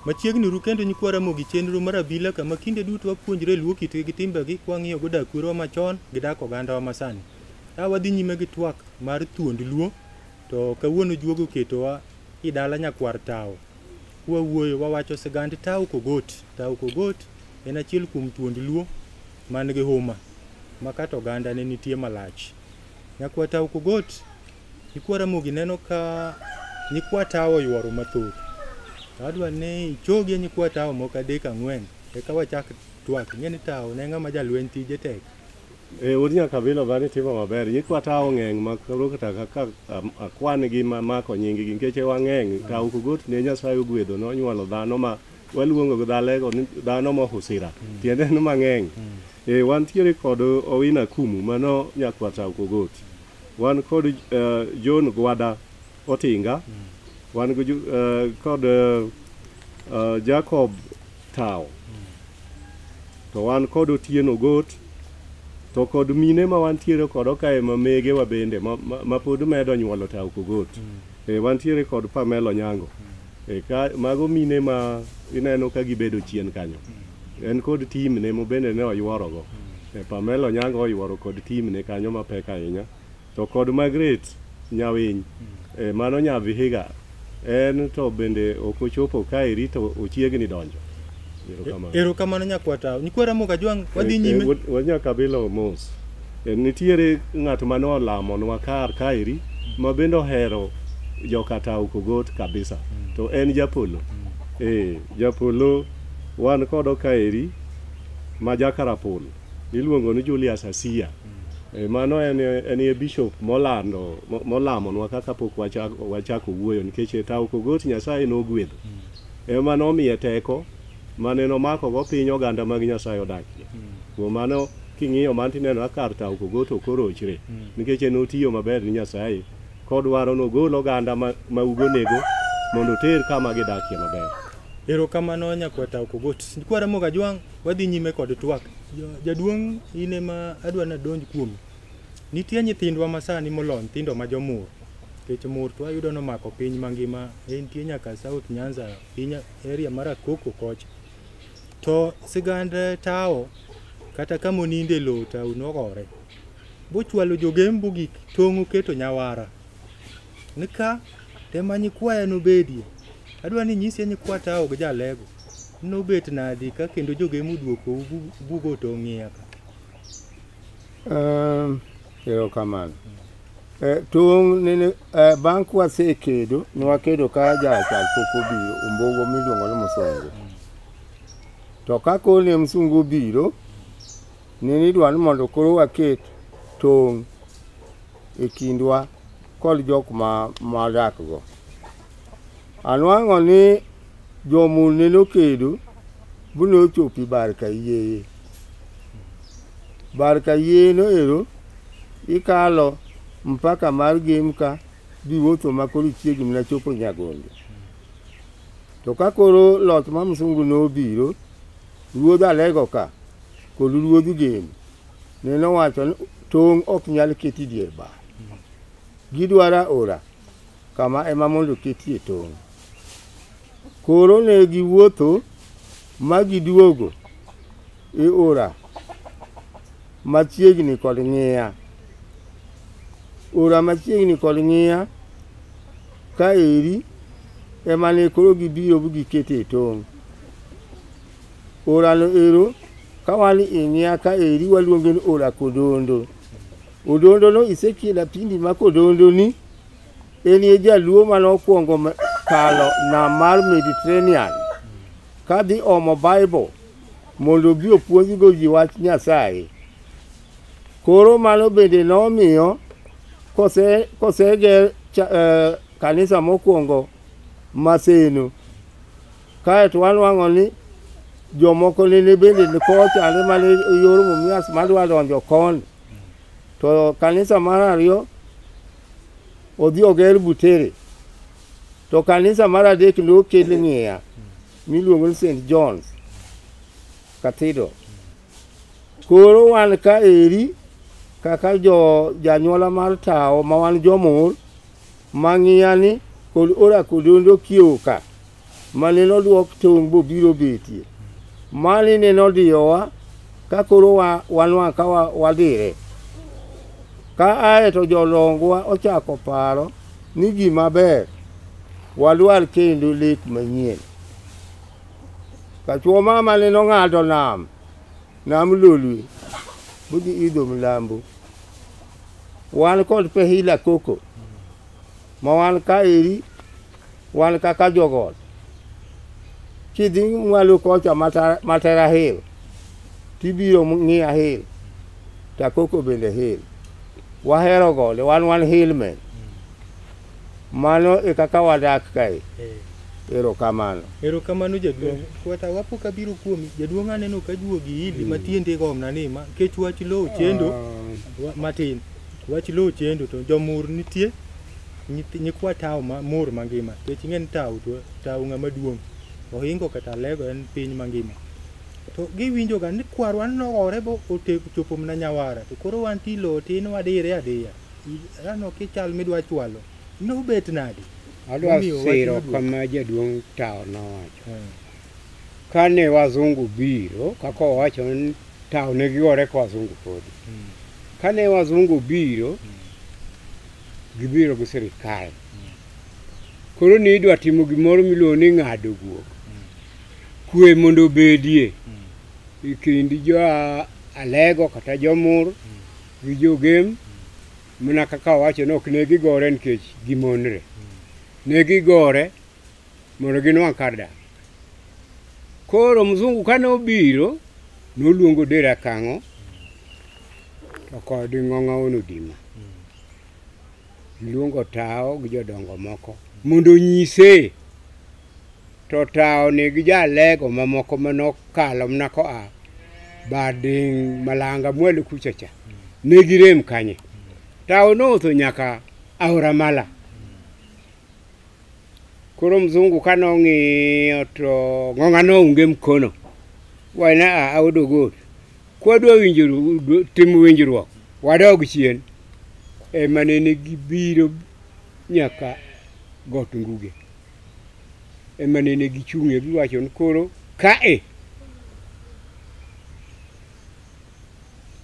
Machiegni uru kendo nyikwa Ramogi chenro mar abila kama kinde duto wapuonjre luo kitgi gi timbegi ka wang'iyo go dak kwerwa machon gi dak ogandawa masani. Ka wadhi nyime gi twak mar thuond luo to kawuono juogo oketowa i dala nyakwar tawo. Kwawuoyo wawacho sigand tawo kogot. Tawo kogot en achiel kuom thuond luo man gi huma ma kata oganda ne nitie malach. Nyakwa Tau Kogot, Nyikwa Ramogi neno ka Nyikwa Tau oyuoro mathoth. To adwa ni ichogi e Nyikwa Tau moko adek ang'wen eka wachak twak. Ing'e ni Tau ne ng'ama jalweny tije tek. E od nyakabila ba ni timo maber. Nyikwa Tau ng'eng' ma koro kata kaka am- akwan gi ma mako nying gi nikech wang'eng'. Tau Kogot ne Nyasaye ogwedho nonyuolo dhano ma Waluongo gi dhalego ni dhano mohusira, tiende ni mang'eny. Eh, wantiere kod Owina Kumu mano nyakwar Tao Kogoti. Wan kod eh, John Gwada Otinga, wan gi ju- eh, kod eh, eh, Jacob Tao. To wan kod Otieno Got, to kod mine ma wantiere kodo kae ma mege wa bende ma, ma, ma pod medo nyuolo Tao Kogoti. Eh, wantiere kod Pamela Onyango. E ka mago mine ma ineno ka gibedo chien kanyo. En kod timne mobende ne oyuorogo. E Pamela Onyango oyuoro kod timne kanyo mapek ahinya. To kod Margaret Nyawiny, e mano nya Vihiga, en to bende ok ochopo kaeri to ochiegni donjo. Erokamano. Erokamano nyakwata. Nyikwa Ramogi Ajwang' wadhi Eh, eh, nyime. wad- Wanya kabila omos. Eh, Nitiere ng'at mane olamonwa kar kaeri ma bende ohero jokatao kogot kabisa. To en japolo. Eh, japolo wan kodo kaeri ma jakarapul. Iluongo ni Julius Asia. Eh, mano en en e bishop molando mo- molamonwa kaka pok wachako wachako wuoyo nikech e tao kogot Nyasaye nogwedho. Ema nomiye teko mane nomakogo piny oganda mag Nyasaye odakie. Kuom mano king'iyo man tineno ka kar tawo kogoto korochre nikech en otiyo maber ni Nyasaye kodwaro nogol oganda ma, ma ugonego mondo oter kama gidakie maber. Erokamano nyakwata Okogot. Kwara Mogajwang', wadhi nyime kod twak. Ja- Jaduong' in ema adwa nadonj kuome. Nitie nyithindwa masani molony, nyithindo ma jomur. Nikech mur to wayudo ni omako piny mangima, ne nitie nyaka South Nyanza, piny area mar Akuku kocha. To sigand tawo kata kama oninde lowo tawo nogore. Bochwalo jogembu gik tong' oketo nyawara. Nika tema nyikwaya nobedie. Adwa ni nyisi nyikwa tawo gi jalego. Nobet nadi ka kendo jogemu duokou bugo tong' iye ka. Um, erokamano Eh, tong' nene eh, bang' kwasekedo nwakedo ka jachal pok obiro ombogo miluongo ni musongo to ka koro ne msungu obiro nene idwa ni mondo koro waket tong' e kindwa kod jok ma madakgo. Anwang'o ni jomune nokedo bu nochopi bar ka yieye. Bar ka yieye noero ikalo mpaka mar Gemka biwuotho ma koro ichiegni mana chopo Nyagonde. To ka koro loch ma msungu nobiro, ruodh Alego ka kod ruodh Gem Ne nowacho ni tong' ok nyal keti dier bar. Gidwara ora kama ema mondo ketie tong'. Koro ne giwuotho ma giduogo e ora machiegni kod ng'iya. Ora machiegni kod ng'iya ka eri ema ne koro gibiro gikete tong'. Orano ero Ka wan e ng'ia ka eri waluonge ni Ola Kodondo. Odondo no Ezekiel Apindi ma Kodondo ni en e jaluo mane okwongo me- kalo nam mar Mediterranean ka dhi omo Bible mondo obi opuonjgo ji wach Nyasaye. Koro mano bende nomiyo kose koseger cha- eh, kanisa mokwongo Maseno Kae to wanwang'o ni jomoko nene bende ni kochande mane yor mumias madwa donjo koni to kanisa mar ariyo odhi oger butere to kanisa mar adek ne okel ng'iya miluongo ni st johns cathedral koro wan ka eri kaka jo janyuola mar tawo ma wan jomor Mang'iyani kod Orakodondo kiewoka mane nodwok tong' bobiro betie. Mani ne nodiyowa ka koro wanwang' ka wadire. Ka ae to jolongwa ochako paro ni gima ber wadwar kendo lek manyien. Kachuo mama ne nong'ado nam. Nam Lolwe budhi idho mlambo. Wan kod Pehila Koko ma wan ka eri wan kaka jogot. Kidhi mwalo kocha Mata- Matera Hill tibiro ng'iya Hill to Akoko bende Hill. Wahero gode wan wan hillmen. Mano e kaka wadak kae. Eh. Erokamano. Erokamano jaduong'. Kwata wapo ka biro kuomi. Jaduong' aneno ka juogi hili mm. matiende gomna ni ma kech wach lowo chendo ah. matin. Wach lowo chendo to jomur nitie nyikwa tawo ma mur mangima. Kech ng'en tawo to tawo ng'ama duong'. Ohingo kata lego en piny mangima. To giwinjo ga ni kwarwa nogore bo ochopo mna nyawara. To koro wan tilo tin wadire adiya. Rano kichal midwa chwalo nobet nade? Adwa Momiyo wach siro maduong'. kama jaduong' Tao nowacho. Eh, Kane wazungu biro, kaka owacho ni Tao ne giore ka wazungu podi. mm, Kane wazungu biro, gibiro gi sirikal. Koro ni idwa timo gimoro miluongo ni ng'ado guok. Kwe mondo obedie mm. e kind jo Alego kata jomur gi jogem mana kaka owacho ni ok ne gigore nikech gimonre ne gigore mondo ginwang' kar dak koro mzungu kane obiro noluongo dera kang'o to kod ng'ong'awono dima Iluongo tawo gi jodongo moko mondo onyise to tawo ni gi jalego mamoko manokalo mana koa bading malanga mwalo kucha cha ne girem kanye tawo nootho nyaka aora mala koro mzungu ka nong'iyo to ng'ong'a nounge mkono wena a audo gold Kwadwa winjuru timo winjruok, wadog chien e manene gibiro nyaka got nguge e manene gichung'e giwacho ni koro kae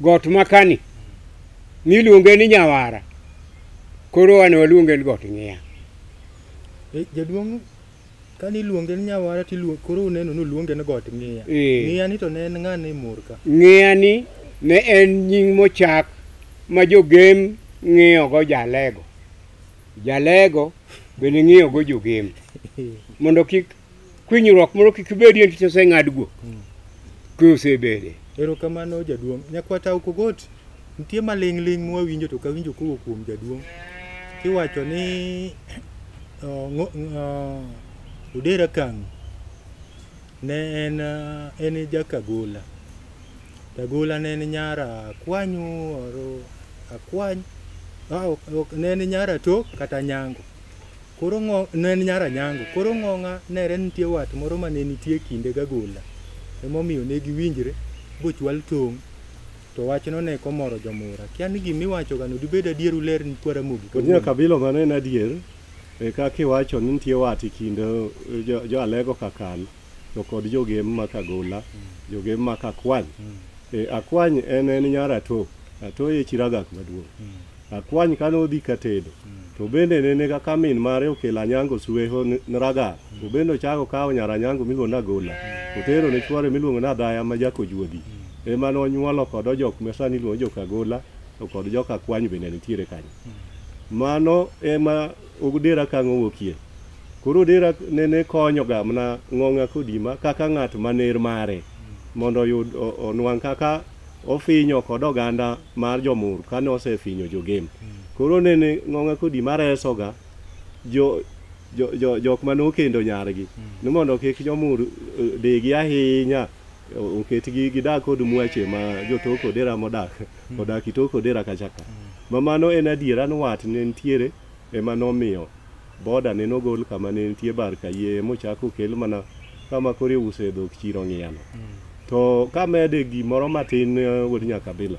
got makani niluonge ni nyawara koro wane waluonge ni got ng'iya Jaduong' Kani iluonge ni nyawara to iluonge koro uneno ni uluonge ni got ng'iya. Ee. Ng'iya ni to ne en ng'a ne mor ka. Ng'iyani ne en nying mochak ma jogem ng'iyogo jalego. Jalego bende ng'iyogo jogem mondo kik kwinyruok moro kik bedie nikech oseng'adgo kwe osebede. Erokamano jaduong'. Nyakwata ok ogot. Nitie maling'ling' mwawinjo to kawinjo kowuok kuom jaduong' kiwacho ni uh, ngo- uh, Odera Kang'o ne en uh, en jakagola Kagola ne en nyara akwanyu oro akwany ah, ok- ok- ne en nyara tok kata nyango koro ng'o ne en nyara nyango koro ng'ong'a nere nitie wat moro ma ne nitie kinde gagola emomiyo ne giwinjre bochwal tong' To wachno ne komoro jomura. Kia ni gima iwachogano dibed adier uler ni kwa Ramogi Kod nya kabilo mano en adier e kaka iwacho ni nitie wat e kind eh, jo, jo Alego Kakan to kod jogem ma Kagola, jogem ma Kakwany. Eh, Akwany en en nyar Ato, Ato e chiragak maduong'. Akwany kane odhi ka tedo to bende nene kaka min mare okelo anyango suweho ni ni ragar to bende ochako kawo nyar anyango miluongo ni agola otero ne chwore miluongo ni adhaya ma jakojuodhi ema nonyuolo kod ojok ma sani iluongo jok agola to kod jok akwany bende nitiere kanyo mano ema odera ka ng'owuokie koro odera nene konyoga mana ng'ong'a kodima kaka ng'at maner mare mondo oyud o- onwang' kaka ofinyo kod oganda mar jomur kane osefinyo jogem koro nene ng'onga kodi maresoga jo jo- jo- jok mane okendo nyargi ni mondo kik jomur eh, degi ahinya o- oketgi gidak kod mwache ma jotok odera modak odak itok odera kachaka ma mano en adiera ni wat ne nitiere ema nomiyo boda ne nogol kama ne nitie bar kayie mochak okel mana kama koro iuse e dhok chiro ng'iyano to kamede gimoro matin eh, wuod nyakabila